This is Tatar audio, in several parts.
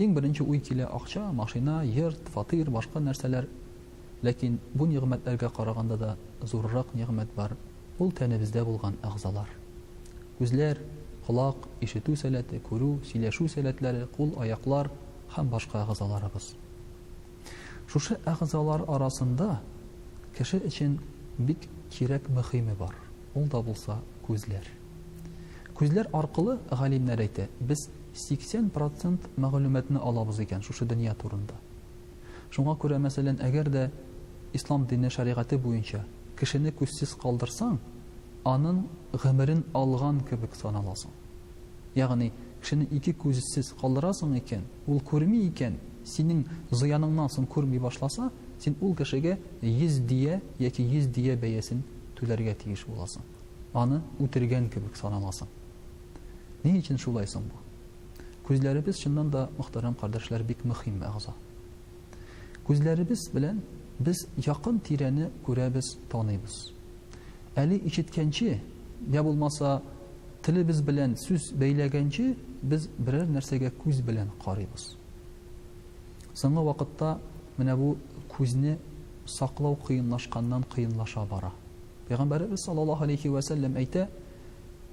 Иң беренче уй килә, акча, машина, йорт, фатир, башка нәрсәләр. Ләкин бу нигъмәтләргә караганда да зуррак нигъмәт бар, ул тәнебездә булган әгъзалар. Күзләр, колак, ишетү сәләте, күрү, сөйләшү сәләтләре, кул, аяклар һәм башка әгъзаларыбыз. Шушы әгъзалар арасында кеше өчен бик кирәк мөхиме бар, ул да булса, күзләр. Күзләр аркылы, галимнәр әйтә, без 80 процент мәгълүматны алабыз икән шушы дөнья турында. Шуңа күрә, мәсәлән, әгәр дә ислам дине шәригате буенча кешене күзсез калдырсаң, аның гомерен алган кебек саналасың. Ягъни, кешене ике күзсез калдырасың икән, ул күрми икән, синең зыяныңнан соң күрми башласа, син ул кешегә 100 дия яки 100 дия бәясен түләргә тиеш буласың. Аны үтергән кебек санамасын. Ни өчен шулай соң бу? Күзләребез, чыннан да, мөхтәрәм кардәшләр, бик мөхим әгъза. Күзләребез белән без якын тирәне күрәбез, таныйбыз. Әле ишеткәнче, йә булмаса, телебез белән сүз бәйләгәнче, без берәр нәрсәгә күз белән карыйбыз. Соңгы вакытта менә бу күзне саклау кыенлашканнан-кыенлаша бара. Пәйгамбәребез саллаллаһу галәйһи вә сәлләм әйтә,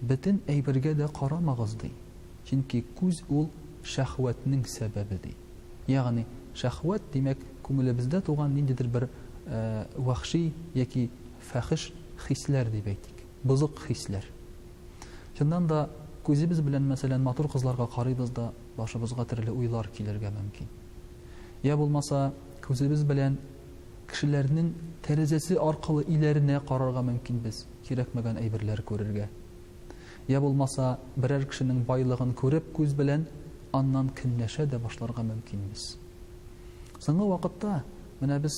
Бөтен әйбергә дә карамагыз, ди, чөнки күз ул шәһвәтнең сәбәбе, ди. Ягъни, шәһвәт, димәк, күңелебездә туган ниндидер бер вәхши яки фәхеш хисләр дип әйтик, бозык хисләр. Чыннан да, күзебез белән, мәсәлән, матур кызларга карыйбыз да, башыбызга төрле уйлар килергә мөмкин. Йә булмаса, күзебез белән Кешеләрнең тәрәзәсе аркылы өйләренә карарга мөмкин без, кирәкмәгән әйберләр күрергә. Йә булмаса, берәр кешенең байлыгын күреп күз белән, аннан көнләшә дә башларга мөмкин без. Соңгы вакытта менә без,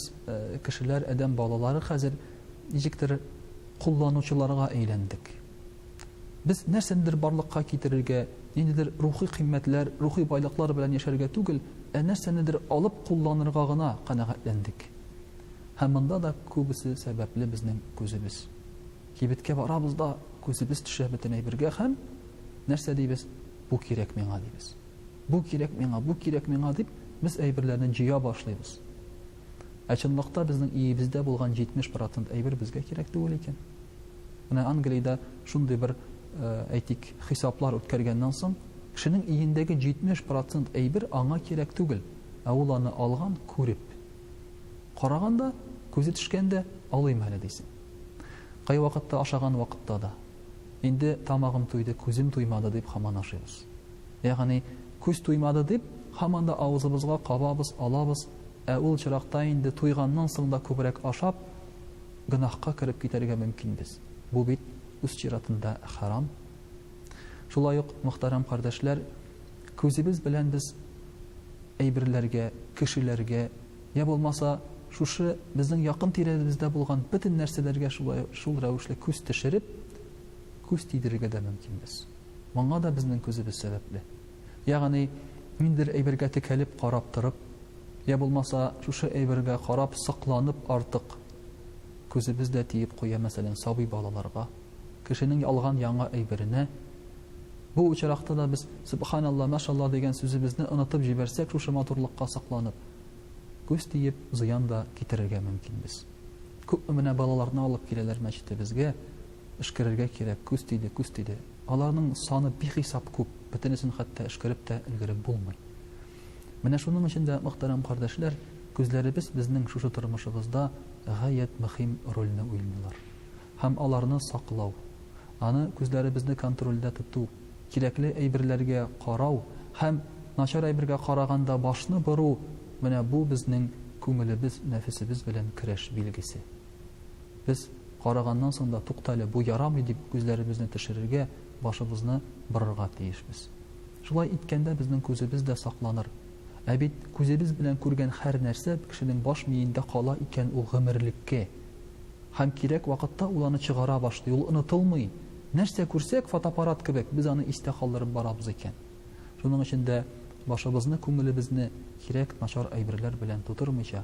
кешеләр, адәм балалары хәзер ничектер кулланучыларга әйләндек. Без нәрсәнедер барлыкка китерергә, ниндидер рухи кыйммәтләр, рухи байлыклар белән яшәргә түгел, ә нәрсәнедер алып кулланырга гына канәгатьләндек. Һәм монда да күбесе сәбәпле безнең күзебез. Кибеткә барабыз да, күзебез төшә бөтен әйбергә һәм, нәрсә дибез, бу кирәк миңа дибез. Бу кирәк миңа, бу кирәк миңа дип, без әйберләрне җыя башлыйбыз. Ә чынлыкта безнең иебездә булган 70 процент әйбер безгә кирәк түгел икән. Менә Англиядә шундый бер, әйтик, хисаплар үткәргәннән соң, кешенең өендәге 70 процент әйбер аңа кирәк түгел, ә ул аны алган, күреп. Караган да, күзе төшкәндә, алыйм әле дисең. Кайвакытта ашаган вакытта да. Инде тамагым туйды, күзем туймады дип һаман ашыйбыз. Ягъни, күз туймады дип, һаман да авызыбызга кабабыз, алабыз, ә ул очракта инде туйганнан соң да күбрәк ашап, Гөнаһка кереп китәргә мөмкинбез. Бу бит үз чиратында хәрам. Шулай ук, мөхтәрәм кардәшләр, күзебез белән без әйберләргә, кешеләргә, йә булмаса, шушы безнең якын тирәбездә булган бөтен нәрсәләргә шулай шул рәвешле күз төшереп, күз тидерергә дә мөмкинбез. Моңа да безнең күзебез сәбәпле. Ягъни, ниндидер әйбергә текәлеп карап торып, йә булмаса, шушы әйбергә карап сокланып артык күзебез дә тиеп куя, мәсәлән, сабый балаларга, кешенең алган яңа әйберенә. Бу очракта да без Сөбханалла, Машалла дигән сүзебезне онытып җибәрсәк шушы матурлыкка сокланып, күз тиеп зыян да китерергә мөмкин без. Күпме менә балаларны алып киләләр мәчетебезгә, Эшкерергә кирәк, күз тиде, күз тиде. Аларның саны бихисап күп, бөтенесен хәтта эшкәреп тә өлгереп булмый. Менә шуның өчен дә, мөхтәрәм кардәшләр, күзләребез безнең шушы тормышыбызда гаять мөхим рольне уйныйлар. Һәм аларны саклау, аны күзләребезне контрольдә тоту, кирәкле әйберләргә карау һәм начар әйбергә караганда башны бору, менә бу безнең күңелебез, нәфесебез белән көрәш билгесе. Без караганнан соң да, туктале, бу ярамый, дип күзләребезне төшерергә, башыбызны борырга тиешбез. Шулай иткәндә безнең күзебез дә сакланыр. Ә бит күзебез белән күргән хәр нәрсә кешенең баш миендә кала икән ул гомерлеккә. Һәм кирәк вакытта ул аны чыгара башлый, ул онытылмый. Нәрсә күрсәк, фотоаппарат кебек, без аны истә калдырып барабыз икән. Шуның өчен дә башыбызны, күңелебезне кирәк начар әйберләр белән тутырмыйча,